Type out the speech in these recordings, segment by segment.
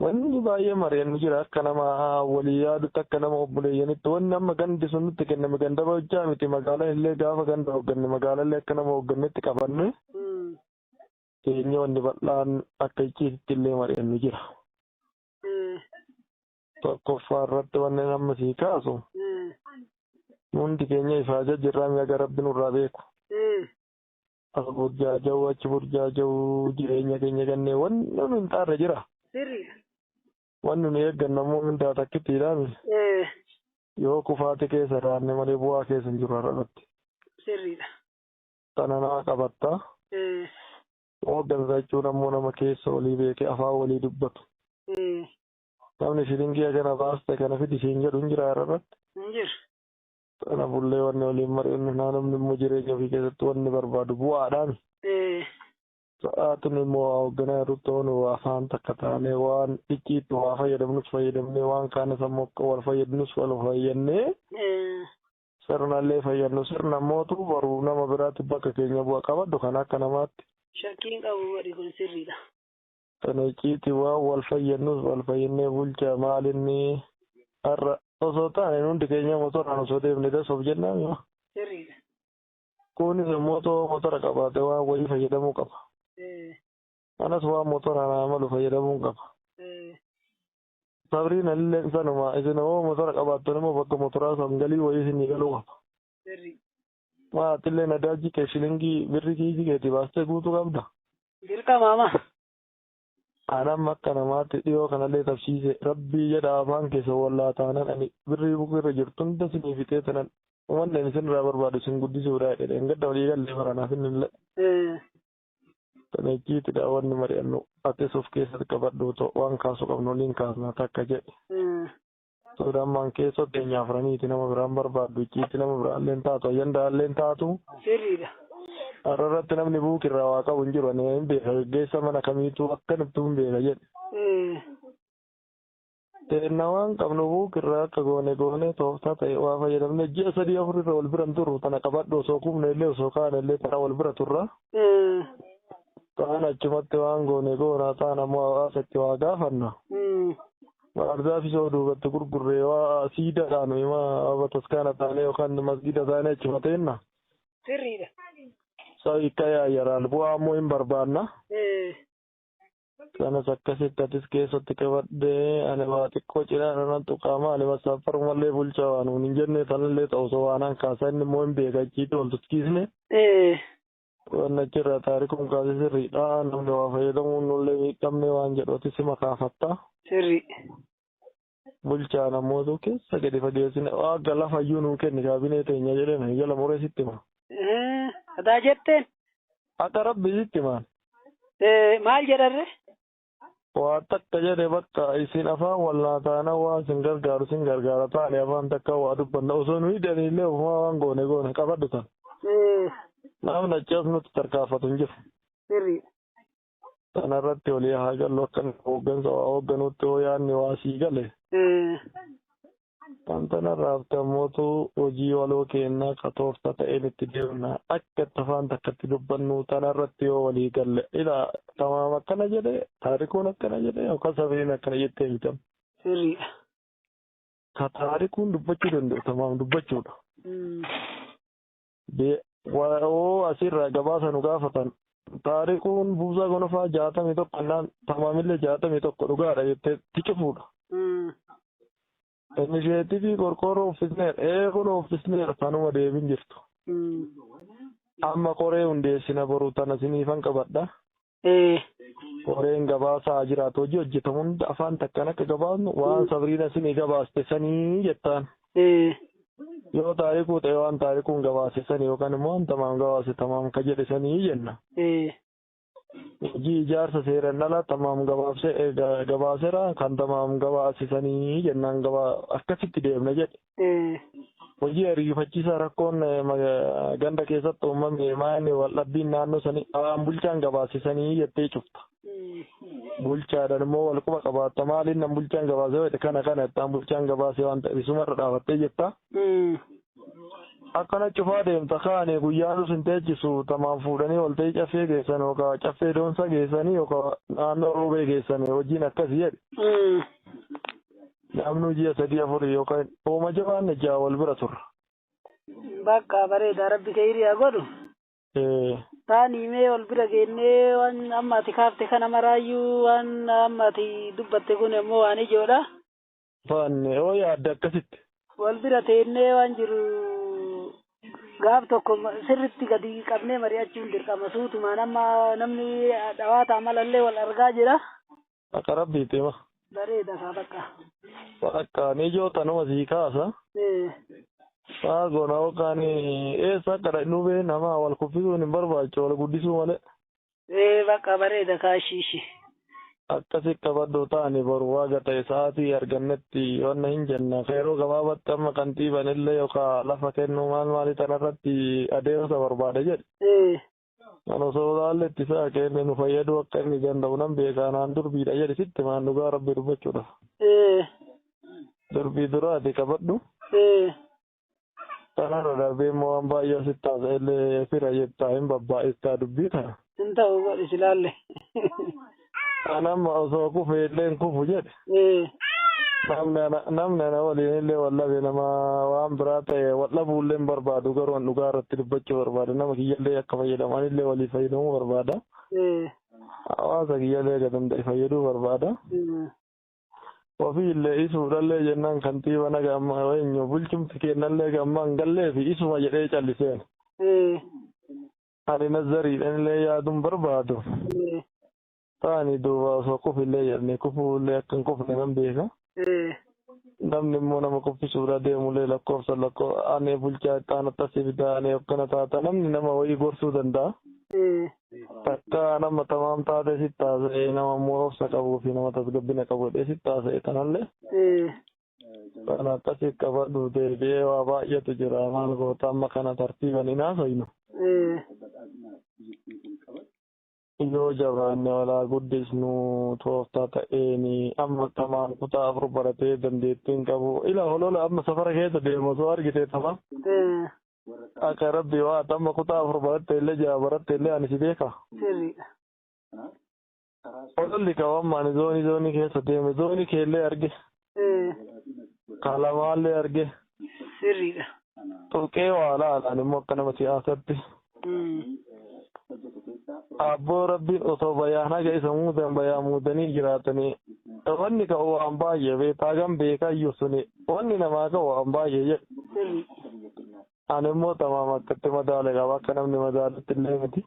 Wanni baay'ee mari'annu jira akka nama walii yaadutti akka nama obboleeyyanitti wanni amma gandi sun nutti kenname ganda bochaa miti magaalaan illee gaafa ganda hoogganne magaalaa illee akka nama hooggannetti qabanne keenya wanni bal'aan akka icciititti illee mari'annu jira. Tokkoffaa irratti wanni amma sii kaasu hundi keenya ifaa jajjirraa mi'a gara rabbi nurraa beeku. Haa burjaaja'u achi burjaaja'u jireenya keenya gannee wanni nu hin taarre jira. Sirriidha. Wanni nu eegganna immoo mindaa takkittiidhaami. Eh, Yoo kufaati keessa jiraanne malee bu'aa keessa hin jiru har'arratti. Sirriidha. Tana naa qabatta. Eh, Hooggansa jechuun ammoo nama keessa olii beekee afaan walii dubbatu. eh, Namni shilingii kana baaste kana fidi siin jedhu hin jira har'arratti. Hin jiru. Kanafullee wanni waliin mari'annu naa namni immoo jireenya ofii keessatti wanni barbaadu bu'aadhaan. Sa'aatiin immoo waa hoogganaa irratti ta'uun waa afaan takka taanee waan icciitti waa fayyadamnus fayyadamnee waan kaanis ammoo akka wal fayyadnus wal fayyannee sirnallee fayyadnu sirna mootu baruu nama biraatti bakka keenya bu'a qabaddu kan akka namaatti. Shakkiin qabu godhi kun sirriidha. Tan icciiti waan wal fayyannus wal fayyannee bulchaa maal inni har'a osoo taane hundi keenya motoraan osoo deemne das of jennaa mima. Sirriidha. Kunis immoo otoo motora qabaate waan wayii fayyadamuu qaba. Anas waan motoraan haa malu fayyadamuun qaba. Sabriin alilleen sanuma isin hoo motora qabaattan immoo bakka motoraa san galii wayii isinii galuu qaba. Ma atillee nadaajii kee shilingii birri kiisii keetii baastee guutuu qabda. Dirqama ama. An amma akka namaatti dhiyoo kanallee tabsiise rabbii jedha afaan keessa wallaa taanan ani birrii bukuu irra jirtu hunda sinii fixee tanan umanni ani sinirraa barbaadu sin guddisuudha jedhe dheengadda walii gallee baranaaf innillee. Eh, Kana icciitidha wanni mari'annu atis of keessatti qabadhu too waan kaasu qabnu waliin kaasna takka jedhe. eh, Sudamman keessoo teenya afraniiti nama biraan barbaaddu icciitti nama biraalleen taatu ayyandaalleen taatu. Sirriidha. Har'a irratti namni buuki irraa waa qabu hin jiru ani hin beeka geggeessa mana kamiitu akkanattuu hin beeka jedhe. Eh, Teenna waan qabnu buuki irraa akka goone goone tooftaa ta'e waa fayyadamne ji'a sadii afur irra wal biran turru tana qabadhu osoo kumne illee osoo kaane illee tana wal bira turra. eh, Taan achumatti waan goone goona taan ammoo hawaasa itti waa gaafanna. mm, Baarzaafii soo duubatti gurgurree waa siidaa taanu ima bataskaana taanee yookaan masgiida taanee achuma teenna. Sirriidha. Soo hiikkaa yaayyaraan bu'aa ammoo hin barbaanna. Eh, Sanas akkasitti atis keessatti qabadhee ani waa xiqqoo cinaa irra nan tuqaa maali masaafarumallee bulchaa waan hin jennee sanallee ta'u soo waanaan kaasaa inni immoo hin beeka achiitti wal tuskiisne. eh, Waan achirraa taarikuun kaase sirriidha. Namni waa fayyadamuun nullee miidhamne waan jedhu ati sima kaafatta. Sirri. Bulchaan ammootu keessa gadi fageessine waaqa lafa iyyuu nuu kenni kaabinee teenya jedheen hayyala muree sitti hima. Eh, Adaa jetteen. Akka rabbi sitti himaan. Eh, Maal jedharre? Waa takka jedhe bakka isin afaan walnaa taana waan sin gargaaru sin gargaara taane afaan takka waa dubbanna osoo nuyi daniillee ofumaa waan goone goona qabadhu tan. Namni achi as nutti tarkaanfatu hin jiru. Sirrii. Sana irratti olii haa gallu akka hooggansa waa hoogganuutti hoo yaadni waa sii gale. Kan tana irraa haftan mootu hojii waloo keennaa ka toofta ta'een itti deemna. Akka itti afaan takkatti dubbannu tana irratti yoo walii galle. Ilaa Tamaam akkana jedhe, Taarikuun akkana jedhe yookaan Sabriin akkana jettee miti amma. Sirriidha. Ka Taarikuun dubbachuu danda'u Tamaam dubbachuudha. BYO asirraa gabaasa nu gaafatan. Taariquun buusaa gonofaa jaatamii tokko annaan tamaamillee jaatamii tokko dhugaadha jettee itti cufuudha. Inisheetivii qorqoorroo uffisneera. Ee kun uffisneera kanuma deebin jirtu. Amma koree hundeessina boru tana siniifan qabadha. Ee. Koreen gabaasaa haa jiraatu hojii hojjetamu hunda afaan takkaan akka gabaasnu waan sabriina isinii gabaaste sanii jettaan. Ee. Yoo taarikuu ta'e waan taarikuun gabaase sanii yookaan immoo waan tamaam gabaase tamaam ka jedhe sanii jenna. Ee. Hojii ijaarsa seeran dhala tamaam gabaabse gabaasera kan tamaam gabaase sanii jennaan gabaa akkasitti deemna jedhe. Hojii ariifachiisaa rakkoon ganda keessatti uumame maayini waldhabbiin naannoo sanii waan bulchaan gabaasisanii jettee cufta. Bulchaadhaan immoo wal quba qabaatta maaliin nan bulchaan gabaasee jedhe kana kana jettaan bulchaan gabaasee waan ta'eef isumarra dhaabattee jetta. Akkana cufaa deemta kaane guyyaatu sin teechisu tamaan fuudhanii wal ta'ii caffee geessan yookaan caffee doonsa geessanii yookaan naannoo roobee geessan hojiin akkasii jedhe. Dhabnuu ji'a sadii afurii yookaan hooma jabaanne ja'a wal bira turra. Baqqaa bareeda rabbi keeyrii haa godhu. Ee. Taanii mee wal bira geennee waan amma ati kaafte kana maraayyuu waan amma ati dubbatte kun ammoo waan ijoodha. Faanne hoo yaadda akkasitti? Wal bira teennee waan jiru gaaf tokko sirritti gadi qabnee mari'achuun dirqama suutumaan amma namni dhawaataa malallee wal argaa jira. Akka rabbiitti hima. Bareeda kaa bakka. Bakka ni joota nama sii kaasa. Eh, Maa goona yookaan eessa akka dhaqnu bee nama wal kuffisuun hin barbaachisu wal guddisuu malee. eh, bakka bareeda kaa shiishi. Akkasi qabadhu taani boru waaga ta'e sa'aatii argannetti wanna hin jenna. Yeroo gabaabatti amma kantiiban illee yookaan lafa kennuu maal maalii tanarratti adeemsa barbaada jedhe. Eh, Kan osoo ilaalle itti fe'a keenne nu fayyaduu akka inni danda'u nan beeka anaan durbiidha jedhi sitti maan dhugaa rabbi dubbachuudha. Ee. Durbii duraati qabadhu. Ee. Kanarra darbee immoo waan baay'ee sitti haasa'ellee fira jettaa hin babbaa'istaa dubbii ta'a. Hin ta'u godhi silaalle. jette. An amma osoo kufee illee hin kufu jedhe. Ee. Namni ana namni ana waliin illee wal dhabe nama waan biraa ta'e wal dhabuu illee hin barbaadu garuu an dhugaa irratti dubbachuu barbaada nama kiyya illee akka fayyadamu ani illee waliif fayyadamuu barbaada. Ee. Hawaasa kiyya illee akka danda'e fayyaduu barbaada. Ee. Ofii illee isuudha illee jennaan kantiiba naga amma eenyu bulchumti keenna illee gamma hin gallee fi isuma jedhee calliseen. Ee. Ani nazariidhanillee yaaduun barbaadu. Taani duuba osoo kufillee jedhanii kufuullee akka hin kufne nan beeka. Namni immoo nama kuffisuudhaa deemullee lakkoofsa lakkoo ani bulchaa itti aanu tasi fidaa ani hoggana taata namni nama wayii gorsuu danda'a. Takka nama tamaam taatee sitti haasa'ee nama immoo obsa qabuu fi nama tasgabbina qabu jedhee sitti haasa'e tanallee Kan akkasii qabadhu deebi'ee waa baay'eetu jira maal goota amma kana tartiiban hin haasofnu. Yoo jabaanne walaa guddisnu tooftaa ta'een amma tamaan kutaa afur baratee dandeettiin qabu ila holola amma safara keessa deemu osoo argitee tama. Akka rabbi waa amma kutaa afur baratte illee ja'a baratte illee ani si beeka. Ololli qabammaan zoonii zoonii keessa deeme zoonii keellee arge. Kalamaallee arge. Sirriidha. Tuqee waa laalaan immoo akka nama siyaasatti. Abboo rabbiin osoo bayaan haga isa muudan bayaa muudanii jiraatanii. Wanni ka'u waan baay'ee beektaa gan beekayyuu suni wanni namaa ka'u waan baay'ee jedhu. Ani immoo tamaam akkatti madaale qaba akka namni madaalutti illee miti.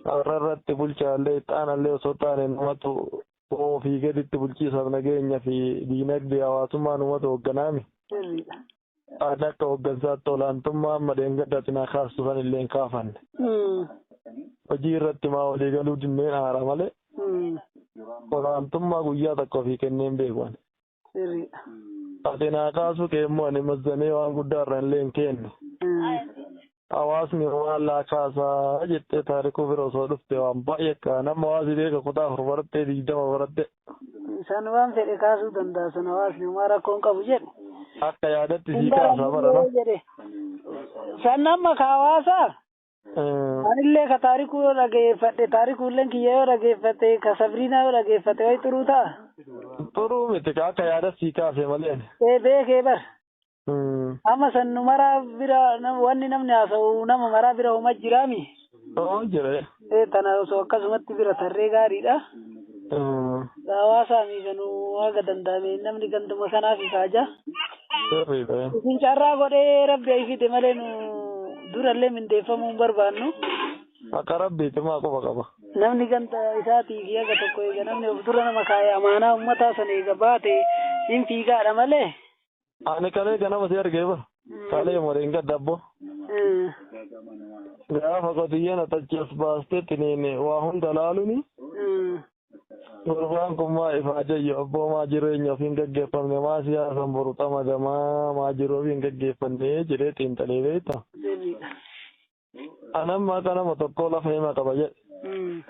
Warra irratti bulchaallee ixaanallee osoo taane numatu ofii gaditti bulchiisaaf nageenya fi diinagdee hawaasummaa numatu hoogganaami. Ani akka hooggansaatti olaantummaa amma dheengaddaatti na kaastu san illee hin kaafanne. Hojii irratti maa walii galuu dinneen aara malee olaantummaa guyyaa takka ofii kenneen beeku ani. sirriidha. Ati naa kaasuu kee immoo ani mazzanee waan guddaa irra illee hin keenne. Hawaasni maallaa kaasaa jettee taarikuu bira osoo dhufte waan baay'ee akka nama hawaasi beeka kutaa afur barattee digdama baratte. San waan fedhe kaasuu danda'a san hawaasni homaa rakkoon qabu jedhe. Akka yaadatti sii kaasa barana. San amma ka hawaasaa Anillee ka taarikuu yoo dhageeffadhe taarikuulleen kiyya yoo dhageeffate ka sabriinaa yoo dhageeffate wayi xuruu ta'a. Xuruu miti ka akka yaada sii kaase malee. Ee beekee bar. Amma san nu maraa bira wanni namni haasa'u nama maraa bira homa jiraami. Homa jira. Ee tana osoo akkasumatti bira tarree gaariidha. Hawaasaa fi kanuu haga danda'ame namni ganduma kanaaf ifaaja. Isin carraa godhee rabbi ayi fide malee nu durallee mindeeffamuu hin barbaannu. Akka rabbiitti maa quba qaba. Namni ganda isaatii fi haga tokko eega namni of dura nama kaa'e amaanaa uummataa san eega baate hin fiigaadha malee. Ani kalee ganama si argee bar. Kalee moriin gadda abbo. Gaafa qotiyyeen atachi as baastee tiniin waa hunda laaluni. Gurbaan kun maa ifaa jayyo abboo maa jireenya ofiin gaggeeffamne maa siyaasan boru xamagamaa maa jiru ofiin gaggeeffanne jedhee xiinxalee beekta. Ana amma akka nama tokkoo lafa hima qaba jedhe. Mm.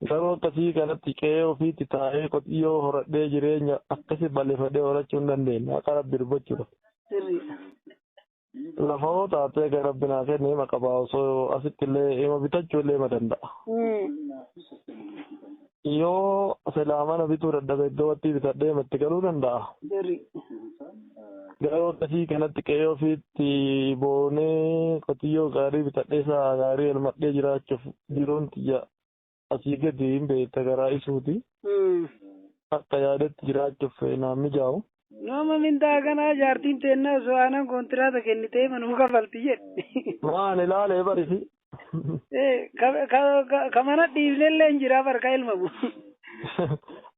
Garuu akkasii kanatti qe'ee ofiitti taa'ee qotiyyoo horadhee jireenya akkasii balleeffadhee horachuu hin dandeenye. Akka rabbi dubbachuudha. Sirriidha. Lafa hoo taatee kan rabbi naa kenne hima qaba osoo asitti illee hima bitachuu illee hima danda'a. Mm. Yoo silaa mana bituu dadhabe iddoo wattii bitadhee matti galuu danda'a. Garri. Garuu akkasii kanatti qe'ee ofiitti boonee qotiyyoo gaarii bitadhee sa'a gaarii elmadhee jiraachuuf jiruun tiyya asii gadi hin beekta garaa isuuti. Akka yaadetti jiraachuuf naan mijaa'u. Nama mindaa kanaa jaartiin teennaa osoo aanan koontiraata kennitee manuu kafalti jedhe. Waan ilaalee barisi. Ka mana dhiifnellee hin jira bar ka ilmamu.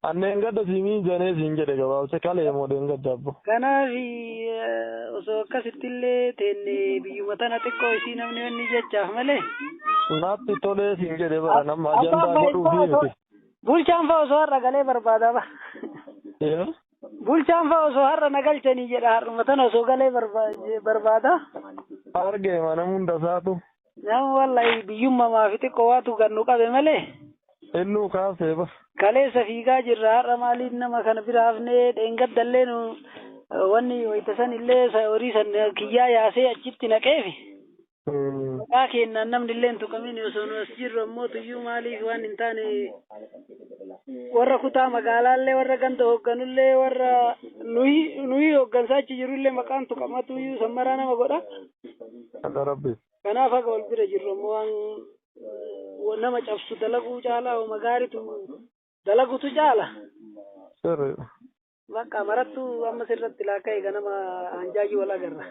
Anneen gadda siimiin janee siin jedhe gabaabse kalee moo deengadda abbo. Kanaaf osoo akkasittillee teenne biyyuma tana xiqqoo isii namni wanni jechaaf malee. Naatti tolee siin jedhe bara nama ajandaa godhuu fi miti. Bulchaan fa'aa osoo har'a galee barbaada bara. Bulchaan fa'aa osoo har'a na galchanii jedha har'uma tana osoo galee barbaada. Arge mana hunda isaatu. Nama wallahi biyyummamaa fi xiqqoo waatu kan nu qabe malee. Innuu kaasee ba. Kaleessa fiigaa jirra har'a maaliin nama kana bira hafnee dheengaddallee nu wanni wayita san illee horii san kiyyaa yaasee achitti naqeefi. Maqaa keennaan namni illee hin tuqamin osoo nu as jirru ammoo tuyyuu maaliif waan hin taane warra kutaa magaalaallee warra ganda hoogganullee warra nuyi nuyi hooggansaa achi jirullee maqaan tuqamatuyyuu sammaraa nama godha. Hadha rabbi. Kanaaf haga wal bira jirru ammoo waan wa- nama cabsu dalaguu caalaa homa gaariitu dalagutu caala. Sirriidha. Bakka marattuu amma sirratti laakka eega nama hanjaajii wal agarra.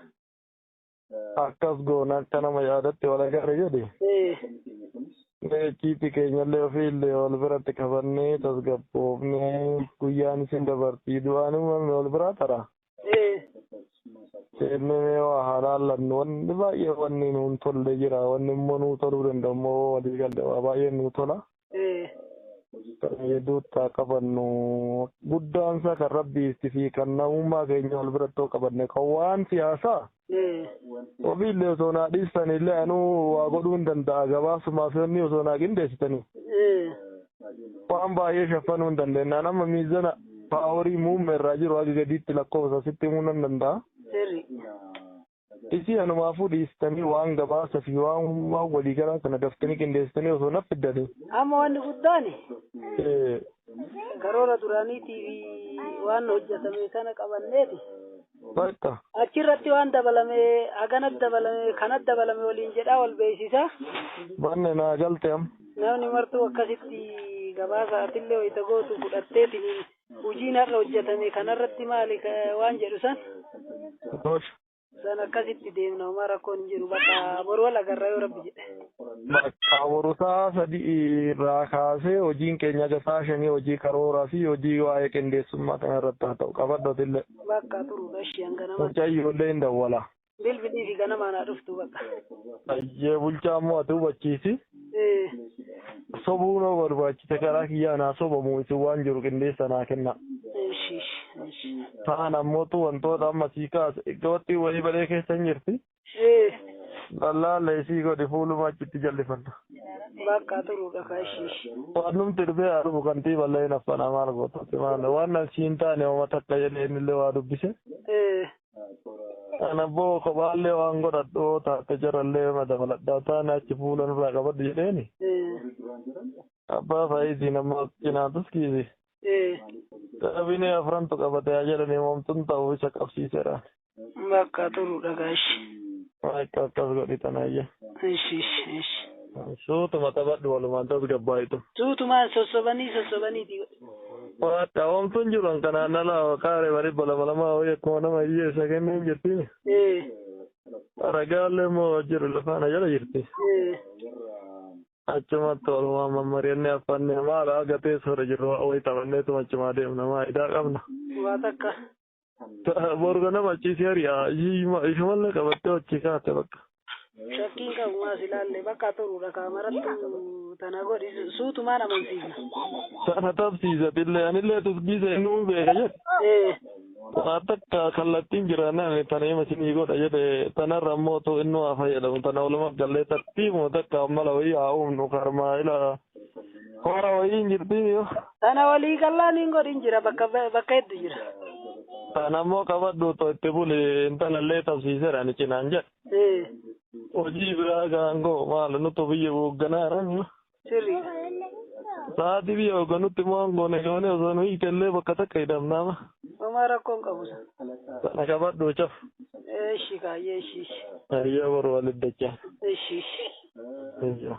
akkas goona akka nama yaadatti wal agarre jedhe meechiitti keenyallee ofiillee wal biratti qabannee tasgabboofnee guyyaan isin dabartii du'aan uumamne wal biraa tara seennee mee waa halaallannu wanni baay'ee wanni nuun tolle jira wanni immoo nuu toluu danda'u immoo walii galle waa baay'ee nuu tola. Duuttaa qabannu guddaan isaa kan rabbiitti fi kan namummaa keenya wal birattoo qabanne kan waan siyaasaa ofiillee osoo naa dhiistanillee anuu waa godhuu hin danda'a gabaasumaaf yoonni osoo naa qindeessitanii waan baay'ee shaffanuu hin dandeenyaan amma miizana paaworii muummee irraa jiru haga gadiitti lakkoofsa sitti himuu nan danda'a. Isin anumaafuu dhiistanii waan gabaasa fi waan waan waliigalaa kana daftanii qindeessitanii osoo na fiddanii. Amma wanni guddaan Eh, karoora duraaniitii fi waan hojjetame kana qabanneeti. Bakka. Achirratti waan dabalame, haganat dabalame, kanat dabalame waliin jedhaa wal beeksisa. Banne naa galte am. Namni martuu akkasitti gabaasa atillee wayita gootu fudhatteetiin hojiin har'a hojjetame kanarratti maali ka- waan jedhu san Tole. san akkasitti deemna homaa rakkoon hin jiru bakka boru wal agarra yoo rabbi jedhe. Bakka boru sa'a sadii irraa kaasee hojiin keenya haga sa'a shanii hojii karooraa fi hojii waa'ee qindeessummaa kanarratti haa ta'u qabadhu atillee. Bakka turudha ishee hanga nama. Mucayyoo illee hin dawwala. bilbilii fi ganamaan haa dhuftu bakka. Ayyee bulchaa ammoo ati hubachiisi. Eh, Sobuu noo barbaachisa karaa kiyyaa naa sobamu isin waan jiru qindeessa naa kenna. Ishi, ishi, ishi. Taan ammootu wantoota amma sii kaasa. Gabattii wayii balee keessa hin jirti. Eh, Lallaalla isii godhi fuuluma achitti jallifanna. bakka turuudha ka ishi, ishi. Waan numti dhufee haa dhufu kantii ballee hin affana maal goota. Waan nan siin taane hooma takka jedhee innillee waa dubbise. Eh, An abboo kophaallee waan godhadhu yoo taate jarallee na dabaladhaa taane achi fuula nurraa qabadhu jedheeni. Abbaa faayitiin ammoo cinaa tuskiisi. Kaabinee afrantu qabate haa jedhanii moomtun ta'u isa qabsiiseera. Bakka turudha gaashi. Akka akkas godhi tanayya. Ishi ishi ishi. Suutuma taphadhu walumaan tasgabbaa'itu. Suutumaan sossobanii sossobanii ti. Waadha oomtuun jiru an kanaan ala qaaree bari balama lama ho'i akkuma nama hiyyeessa kenneen jirti. Ee. Ragaallee immoo jiru lafaana jala jirti. Ee. Achumatti walumaan mammari'annee affannee maala agatee sora jirru ho'i taphanneetuma achumaa deemna maa idaa qabna. Waa takka. Boru ganama achii si ari'a. Shamallee qabattee achii kaate bakka. Shakkiin qabu maas ilaalle bakka turuudha kaamerattu tana godhi suutumaan amansiisa. Sana tabsiisatillee anillee tusgiisa innuu beeka jedhe. Ee Waa takka kallattiin jiraannaan tana hima sinii godha jedhe tanarra immoo tu innuu haa fayyadamu tana walumaa gallee tartiibuma takka mala wayii haa uumnu karmaa ila Hoora wayii hin jirti yoo. Tana walii gallaan hin godhin jira bakka bakka heddu jira. Tana immoo qabadhu otoo itti buli intala illee tabsiiseera ani cinaan jedhe. Eh, Hojii biraa gaangoo maal nutu biyya hoogganaa jiran. sirrii. Sa'aatii biyya hoogganutti immoo aangoone goone osoo nu hiite illee bakka takka hidhamnaama. Homaa rakkoon qabu san. Tana qabadhu caf. Eshi kaayyee eshi eshi. Ayyaa boru walitti dachaa. Eshi eshi. Ayyaa.